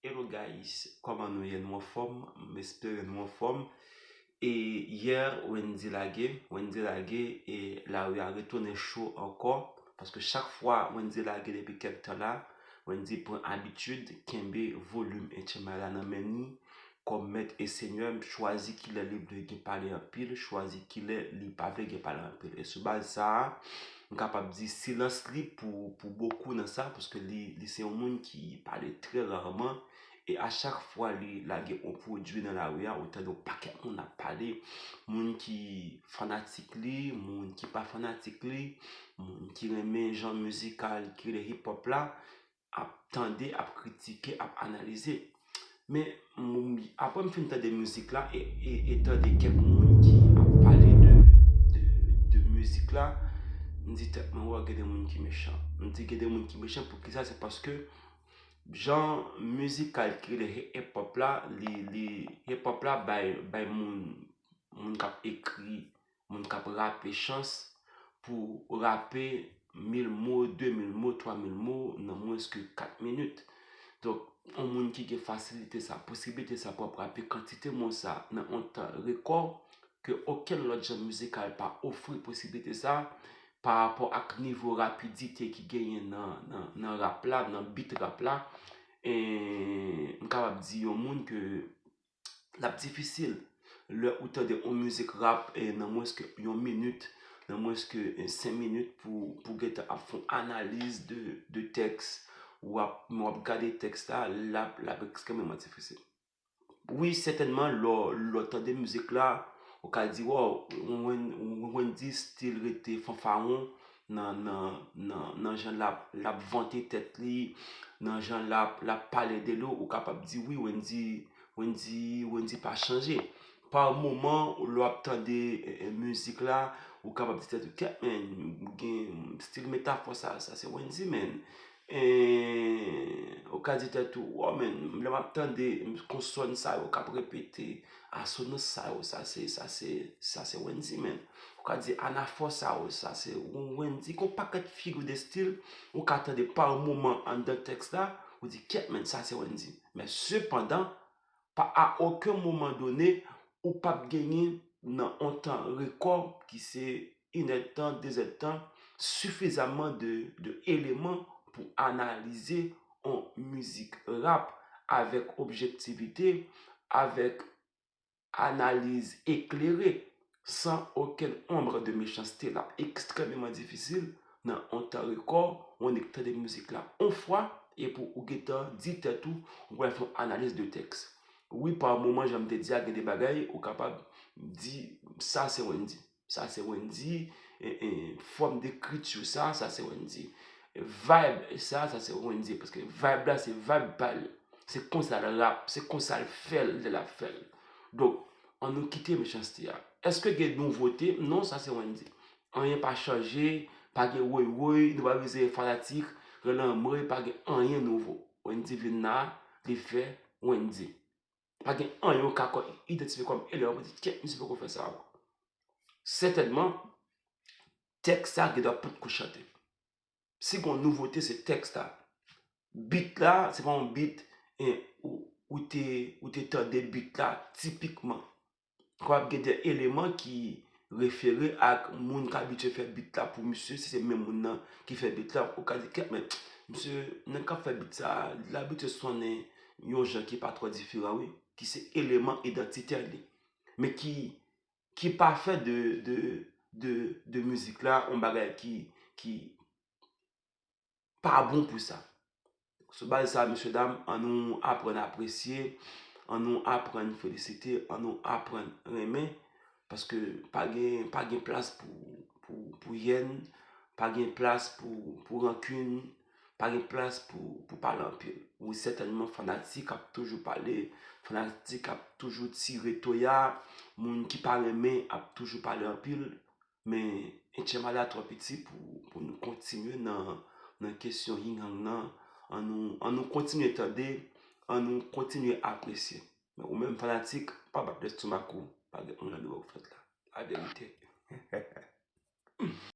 Hello guys kòman nou ye nou anfòm m espere nou anfòm e hier Wendy lage Wendy lage e lari a retounen cho ankò paske chak fwa Wendy lage depi kèk tan la Wendy pran abitid kenbe volume Etchenmay la nan men ni Kòm mèt e senyè m chwazi kilè li vle gen pale anpil, chwazi kilè li pa vle gen pale anpil. E sou baz sa a, m kapab di silans li pou bokou nan sa, paske li se yon moun ki pale trè rarman, e a chak fwa li lage yon pwodui nan lari a, ou tande yon pakèt moun ap pale, moun ki fanatik li, moun ki pa fanatik li, moun ki renmen jan mizikal ki rele hip-hop la, ap tande, ap kritike, ap analize. Men, apre m fin tande mizik la, e tande kèk moun ki ap pale de mizik la, m di tèt mwen, wè gen de moun ki mechan. M di gen de moun ki mechan pou ki sa, se paske jan mizikal ki rele hip-hop la, hip-hop la bay moun, moun k ap ekri moun kap rape chans pou rape mil mo, de mil mo, twa mil mo nan mwens ke kat minit. Donk, yon moun ki gen fasilite sa, posiblite sa pou ap rape kantite mo sa nan yon tan rekò ke okenn lòt jan mizikal pa ofri posiblite sa parapò ak nivo rapidite ki genyen nan rap la, nan bit rap la, m kapab di yon moun ke lap difisil lè ou tande yon mizik rap nan mwens ke yon minit, nan mwens ke 5 minit pou gentan ap fon analiz de tèks ou ap gade tèks la, lap ekstrememan difisil. Wi, sètènman, lò ou tande mizik la, ou ka di, waw, Wendyy stil rete fanfaron, nan jan lap vante tèt li, nan jan lap pale de li ou kapab di wi Wendy pa chanje. Pa ou moman ou lè wap tande mizik la ou kapab di tèt ou kèt men gen stil metafò sa se Wendy men. Eehh ou ka di tèt ou waw men lè map tande konsòn sa yo kap repete asonans sa yo sa se sa se sa se Wendy men ou ka di anafò sa yo sa se yon Wendy gon pakèt figure de style ou ka tande par moman anndan tèks la ou di kyèt men sa se Wendy men sepandan Pa a oken moman done, ou p ap genyen nan on tan rekò ki se inèdtan, dezèdtan, sifizamman de de eleman pou analize on mizik rap avèk objektivite, avèk analiz eklere. san okenn ombre de mechanste l ap ekstrememan difisil nan on tan rekò ou annik tande mizik la on fwa epi ou gentan di tèt ou ou pral fè yon analiz de tèks. Wi pa moman jan m te di a gen de bagay ou kapab di sa se Wendyy, sa se Wendyy, fòm dekriti w sa, sa se Wendyy, vayb sa, sa se Wendyy paske vayb la se vayb pa l, se konsa l rap, se konsa l fè l lè l ap fè l donk. An nou kite mechanste a. Eske gen nouvote? Non sa se Wendy. Anyen pa chanje, pa gen woy woy, nou pa bezwen fanatik, rele anmwey pa gen anyen nouvo. Wendy vin la, li fè Wendy. Pa gen anyen ou ka kon idantifye kòm elè wap di kèt misye poko fè sa ankò. Sètènman, tèks sa gen dwa potko chante. Si gon nouvote se tèks la. Beat la se pa yon beat ou te ou te tande beat la tipikman. Kapab gen de eleman ki refere ak moun k abitye fè beat la pou misye si se menm moun nan ki fè beat la. Ou ka di kèt men, misye nèg k ap fè beat sa a li abitye sonnen yon jan ki pa twò diferan wi. Ki se eleman idantitè li. Men ki ki pa fè de de de mizik la yon bagay ki ki pa bon pou sa sou baz sa mesye dam an nou aprann apresye an nou aprann felisite an nou aprann renmen paske pa gen pa gen plas pou pou pou yèn pa gen plas pou pou rankin Pa gen plas pou pou pale anpil. Wi sètènman fanatik ap toujou pale, fanatik ap toujou tire toya, moun ki pa renmen ap toujou pale anpil, men Etchenbada twò piti pou pou nou kontinye nan nan kesyon Ying Yang nan, an nou an nou kontinye tande, an nou kontinye apresye. Men ou menm fanatik, pa bat lèstomak ou, pa gen anyen de wè ou fèt la. Laverite.